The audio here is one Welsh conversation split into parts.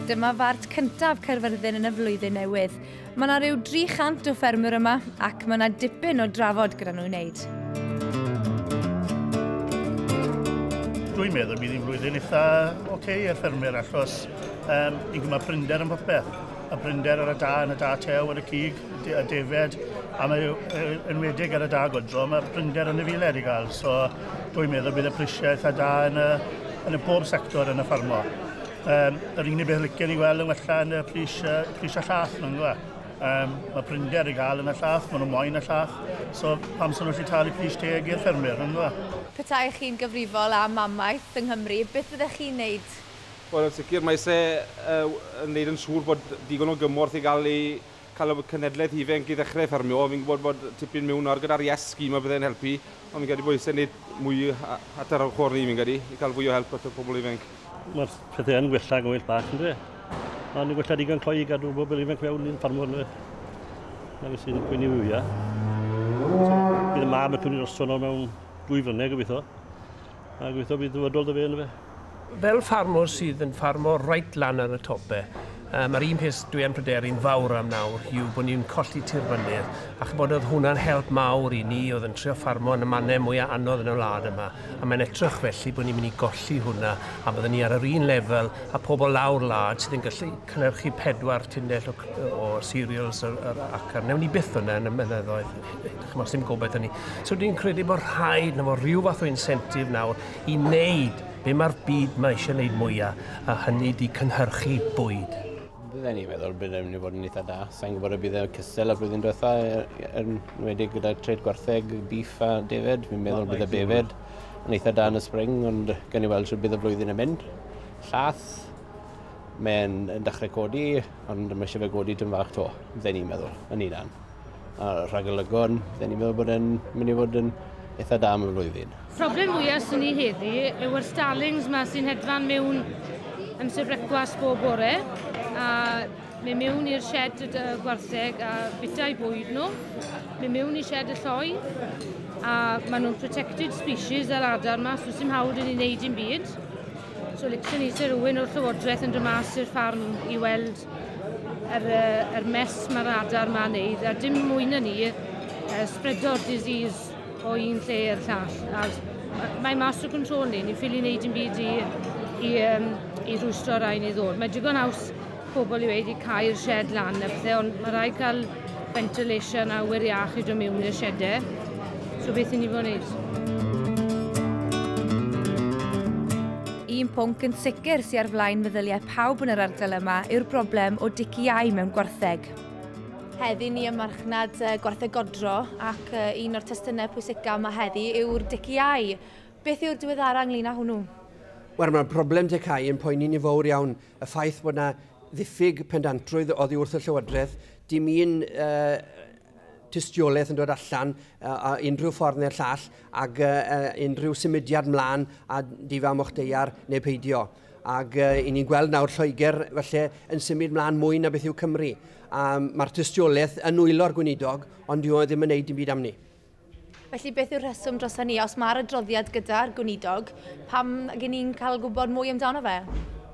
Dyma fart cyntaf Caerfyrddin yn y flwyddyn newydd. Mae yna rhyw 300 o ffermwyr yma ac mae yna dipyn o drafod gyda nhw i wneud. Dwi'n meddwl bydd hi'n flwyddyn eitha oce okay ar ffermwyr achos um, ni'n gwneud prinder yn popeth. Y prinder ar y da, yn y da tew, ar y cig, a defaid, a mae enwedig ar y da godro, mae prinder yn y filed i gael. So, dwi'n meddwl bydd y prisiau eitha da yn y, yn y pob sector yn y ffarmo. Um, yr unig beth licen i weld yn wella yn y pris, uh, pris a llath, mae'n gwybod. Um, mae prinder i gael yn y llath, maen nhw moyn y llath, so pam sy'n nhw'n talu pris teg i'r ffermwyr, yn dda? Petai chi'n gyfrifol am amaeth yng Nghymru, beth fyddech chi'n neud? Wel, yn sicr, mae se uh, yn neud yn siŵr bod digon o gymorth i gael ei Cael y cenhedlaeth ifainc i ddechrau ffermio, fi'n gwybod bod tipyn miwn nawr gyda'r Yes scheme a bydde'n helpu, ond fi'n credu bod eisiau gwneud mwy at yr ochr ni fi'n credu, i cael fwy o help at y pobl ifainc. Mae'r pethau yn gwella gymaint bach yn dweud. Ond yn gwella digon cloi i gadw bobl ifainc fewn i'n ffarmwr yn dweud. Na fi sy'n gwneud fwyaf. Bydd y mab yn cymryd drosto nawr mewn dwy flynedd gobeithio. A gweithio bydd dyfodol da fe yn fe. Fel ffarmwr sydd yn ffarmo reit lan ar y tope, um, a'r un peth dwi yn pryderu'n fawr am nawr yw bod ni'n colli tir fynydd, a chybod oedd hwnna'n help mawr i ni oedd yn trio ffarmo yn y mannau mwyaf anodd yn y wlad yma, a mae'n edrych felly bod ni'n mynd i golli hwnna, a byddwn ni ar yr un lefel a pobl lawr wlad sydd yn gallu cynnyrchu pedwar tunnell o, o cereals ar, ar acar. Newn ni byth hwnna yn y mynyddoedd. Chymod, sy'n gobeith hynny. So dwi'n credu bod rhaid na fod rhyw fath o incentive nawr i wneud be mae'r byd mae eisiau wneud mwyaf, a hynny di cynhyrchu bwyd. Bydden ni'n meddwl bydd e'n mynd i fod yn eitha da. Sa'n gwybod y bydd e'n cystal y flwyddyn diwetha, er, er, wedi gyda tred gwartheg, beef a defed. Fi'n meddwl bydd y befed yn eitha da yn y spring, ond gan i weld sy'n bydd y flwyddyn yn mynd. Llath, mae'n dechrau codi, ond mae eisiau fe godi tyn fach to, bydden ni'n meddwl, yn unan. A rhagolygon, dyn ni'n meddwl bod e'n mynd i fod yn eitha da am y flwyddyn. Problem mwyaf sy'n ni heddi yw'r starlings yma sy'n hedfan mewn amser brecwast bob bore a mynd mewn i'r shed y gwartheg a bita i bwyd nhw, mynd mewn i shed y lloi a maen nhw'n protected species yr adar yma, so sy'n hawdd yn ei wneud i'n byd. So licen ni Sir Owen o'r Llywodraeth yn dod mas i'r ffarm i weld Er, er mes mae'r adar ma'n neud, a dim mwy na ni, uh, spreado'r disease o un lle i'r llall. A mae mas o control ni, ni'n ffili wneud yn byd i, i, um, i rwystro rai ni ddod. Mae digon aws pobl i wedi cael shed lan a pethau, ond mae rai cael Ventilation awyr iach i dod mewn i'r siedau. So beth i ni fod yn gwneud? Un pwnc yn sicr sy'n ar flaen meddyliau pawb yn yr ardal yma yw'r broblem o diciau mewn gwartheg. Heddi ni ym marchnad gwartheg godro ac un o'r testunau pwysicaf yma heddi yw'r diciau. Beth yw'r diweddara ynglyn â hwnnw? Wel, mae'r broblem dicau yn poeni ni fawr iawn. Y ffaith bod yna ddiffyg pendantrwydd oddi wrth y Llywodraeth, dim un uh, tystiolaeth yn dod allan uh, a unrhyw ffordd neu'r llall ac uh, unrhyw symudiad mlaen a difa moch deiar neu peidio. Ac uh, i ni'n gweld nawr Lloegr felly yn symud mlaen mwy na beth yw Cymru. Um, Mae'r tystiolaeth yn wylo'r gweinidog, ond dyw e ddim yn neud dim byd am ni. Felly beth yw'r rheswm dros hynny? Os mae'r adroddiad gyda'r gweinidog, pam gen ni'n cael gwybod mwy amdano fe?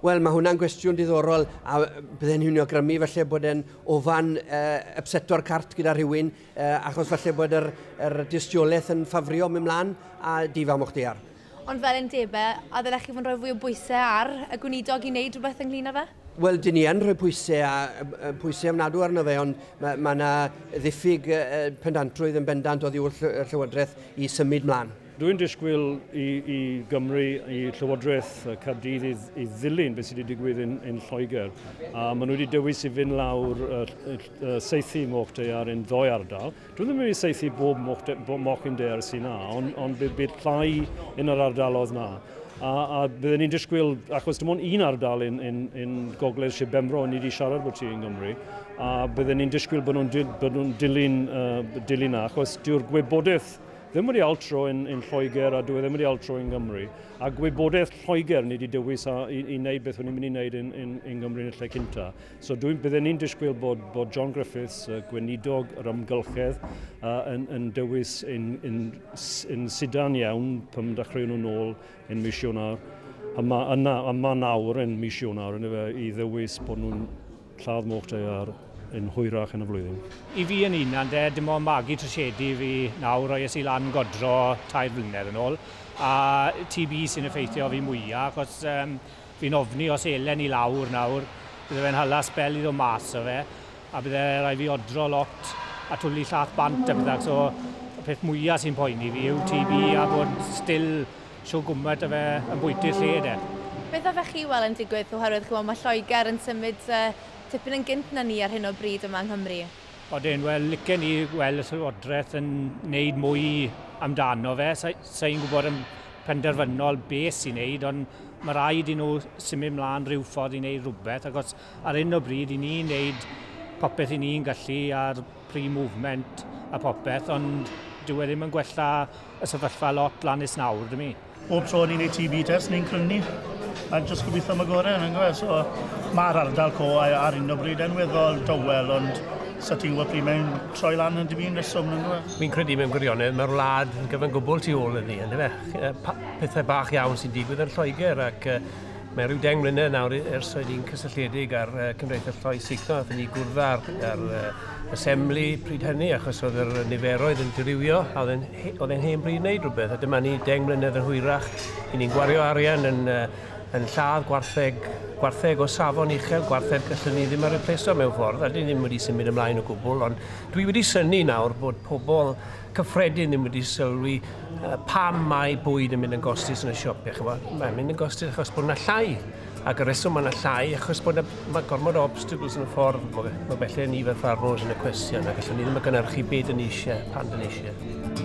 Wel, mae hwnna'n gwestiwn diddorol a bydde'n hynny o grymu falle bod e'n ofan uh, upseto'r cart gyda rhywun uh, achos falle bod yr, yr dystiolaeth yn ffafrio mynd mlaen a di fam o'ch dear. Ond fel undebau, a ddylech chi fod yn rhoi fwy o bwysau ar y Gweinidog i wneud rhywbeth ynglyn â fe? Wel, dyn ni yn rhoi pwysau, a, pwysau ofnadw arno fe, ond mae yna ma ddiffyg pendantrwydd yn bendant oddi wrth y Llywodraeth i symud mlaen. Dwi'n disgwyl i, i Gymru, i Llywodraeth Caerdydd i, i ddilyn beth sydd wedi digwydd yn, yn Lloegr. A maen nhw wedi dewis i fynd lawr uh, uh, seithi moch daear yn ddoe ardal. Dwi ddim wedi saethu bob moch yn der sy'n na, ond, ond bydd, bydd llai yn yr ardalodd na. A, a byddwn ni'n disgwyl, achos dim ond un ardal yn, yn, yn gogledd Sir Benfro ni wedi siarad bod ti yn Gymru, a byddwn ni'n disgwyl bod nhw'n nhw dilyn, uh, dilyn na, achos dyw'r gwybodaeth ddim wedi altro yn, yn Lloegr a dwi e ddim wedi altro yn Gymru. A gwybodaeth Lloegr ni wedi dewis a, i, i wneud beth o'n i'n mynd i wneud yn, yn, yn Gymru yn y lle cynta. So dwi'n bydden ni'n disgwyl bod, bod John Griffiths, y gweinidog yr ymgylchedd, uh, yn, yn dewis yn, yn, yn sidan iawn pam dechrau nhw'n ôl yn mis Ionar. A mae yna, a mae nawr yn mis Ionar yn efe, i ddewis bod nhw'n lladd moch ar yn hwyrach yn y flwyddyn. I fi yn un, ande, dim ond magu trysiedu fi nawr roi es i lan godro tair blynedd yn ôl, a TB sy'n effeithio fi mwyaf, achos um, Fi'n ofni os elen i lawr nawr, bydde fe'n hala sbel i ddod mas o fe, a bydde rai' fi odro lot a twli llath bant a petha, so y peth mwya sy'n poeni fi yw TB a bod still shw gwmet o fe yn bwytu'r lle de. Beth a fech chi wel yn digwydd oherwydd ch'mo ma Lloeger yn symud tipyn yn gynt na ni ar hyn o bryd yma yng Nghymru? Odyn, wel licen i wel y Llywodreth yn neud mwy amdano fe, sa i'n gwbod am penderfynol beth i wneud, ond mae rhaid i nhw symud mlaen rhyw ffordd i wneud rhywbeth, ac os ar hyn o bryd i ni wneud popeth i ni'n gallu ar pre movement a popeth, ond dyw e ddim yn gwella y sefyllfa lot lan is nawr, dwi mi. Bob tro ni'n neud TB test, ni'n crynu, a jyst gobeithio am y gorau, yn gwybod, so mae'r ardal co ar hyn o bryd yn weddol dawel, ond sa ti'n gwybod pryd mae'n troi lan yn dipyn reswm yn dweud. Fi'n credu mewn gwirionedd mae'r wlad yn gyfan gwbl tu ôl iddi, yn dyfe? Pethau bach iawn sy'n digwydd yn Lloegr ac uh, mae rhyw deng mlynedd nawr ers oedd hi'n cysylltiedig ar uh, Cymdeithas Lloi Signo, oedd ni gwrdd ar, ar uh, assembly pryd hynny achos oedd yr niferoedd yn dirywio a oedd e'n hen bryd wneud rhywbeth a dyma ni deng mlynedd yn hwyrach i ni'n gwario arian yn uh, yn lladd gwartheg, gwartheg o safon uchel, gwartheg gallwn ni ddim a repleso mewn ffordd, a dyn ni ddim wedi symud ymlaen o gwbl, ond dwi wedi synnu nawr bod pobl cyffredin ddim wedi sylwi uh, pam mae bwyd yn mynd yn gostus yn y siop, eich bod, mae'n mynd yn gostus achos bod yna llai, ac y reswm mae yna llai achos bod yna, mae gormod o obstacles yn y ffordd, mae felly ni fel ffarmwrs yn y cwestiwn, ac allwn ni ddim yn gynnyrchu byd yn eisiau, pan dyn eisiau.